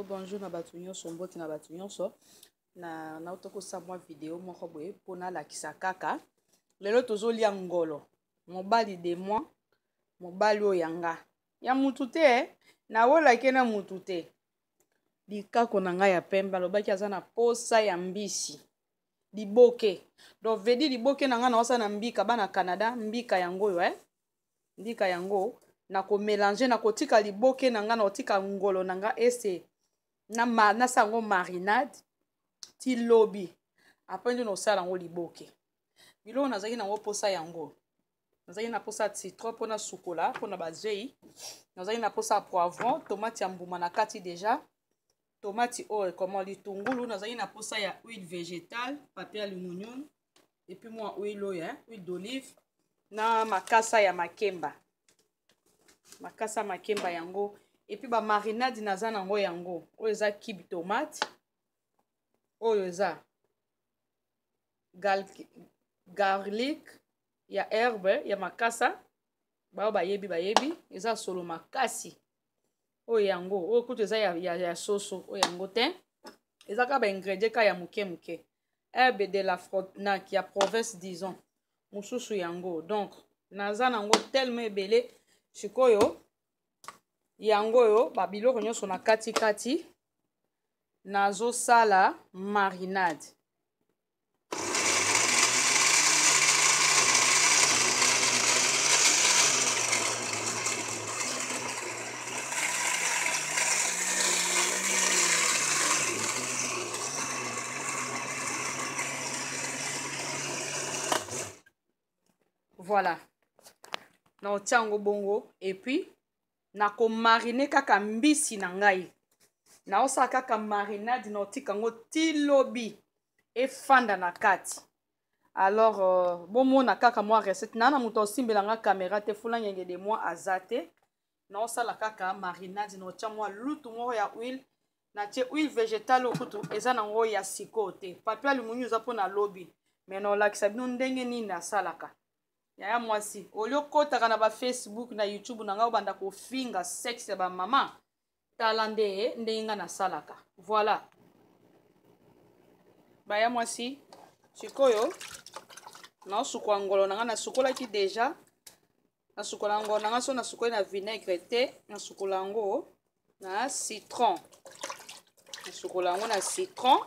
bonjour na bato nyonso mbote na bato nyonso na nauta kosa mwa video moko boye mpo nalakisa kaka lelo tozolia ngolo mobali de moi mobali oyo ya nga ya mutu te eh? nawolake na mutu te likako na ngai ya pembe alobaki aza na posa ya mbisi liboke donc vedi liboke na ngai naosala na mbika bana canada mbika yango oyo eh? ndika yango na komelange na kotika liboke na ngai na kotika ngolo na ngai ese nasa yango marinade ti lobi apres nde nosala yango liboke biloko nazalaki na yango mposa yango nazalaki na mposa citron mpo nasukola mpo na bazei nazalaki na mposa poivron tomate ya mbuma na kati deja tomate oyo ekoma litungulu nazalaki na mposa ya huile végétale papier aluminium epuis mwa huile oyo eh? huile d'olive na makasa ya makemba makasa makemba yango epuis bamarinade naza na yango yango oyo eza kibe tomate oyo eza Gal garlic ya herbe ya makasa baoyo bayebi bayebi eza solo makasi oyo yango oyo kutu eza ya, ya, ya soso oyo yango te eza kaka baingredient kaka ya moke moke herbe de la frontenac ya province disons mosusu yango donc naza nango tellement ebele sikoyo yango oyo babiloko nyonso na katikati nazosala marinade voilà na otia yango bongo epuis nakomarine kaka mbisi na ngai naosala kaka marinade na otika yango ti lobi efanda na kati alors euh, bomona kaka mwa recette naa na moto asimbela nga kamera te fulangenge de moi aza te naosala kaka marinade naotya mwa lutu moko ya huile natie huile végétale oyo kutu eza na yango ya sikoyo te papi alimoni oza mpo na lobi me naolakisa bino ndenge nini nasalaka yaya mwasi olio okotaka na bafacebook na youtube na ngai obanda kofinga sexe ya bamama tala nde ndenge nga nasalaka voilà baya mwasi sikoyo naosukwa ngolo na nga nasukolaki deja nasukola ngolo na nga so nasukoli na vinaigre te nasukola yango na citron nasukola yango na citron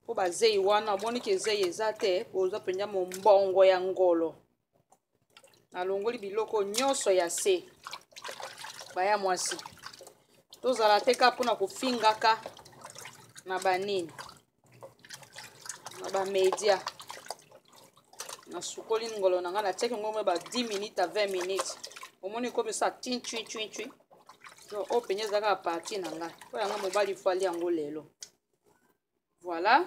mpo bazei wana omoniki ezei eza te oza mpenza mombongo ya ngolo nalongoli biloko nyonso ya se baya mwasi tozala te ka mpona kofingaka na banini na bamedia nasukoli ngolo na ngai natiaki yango ba 10 minutes a 20 minutes omoni ekomisa tin cui cui cui no oyo mpenza ezalaka ya parti na ngai mpo yanga mobali fwali yango lelo voilà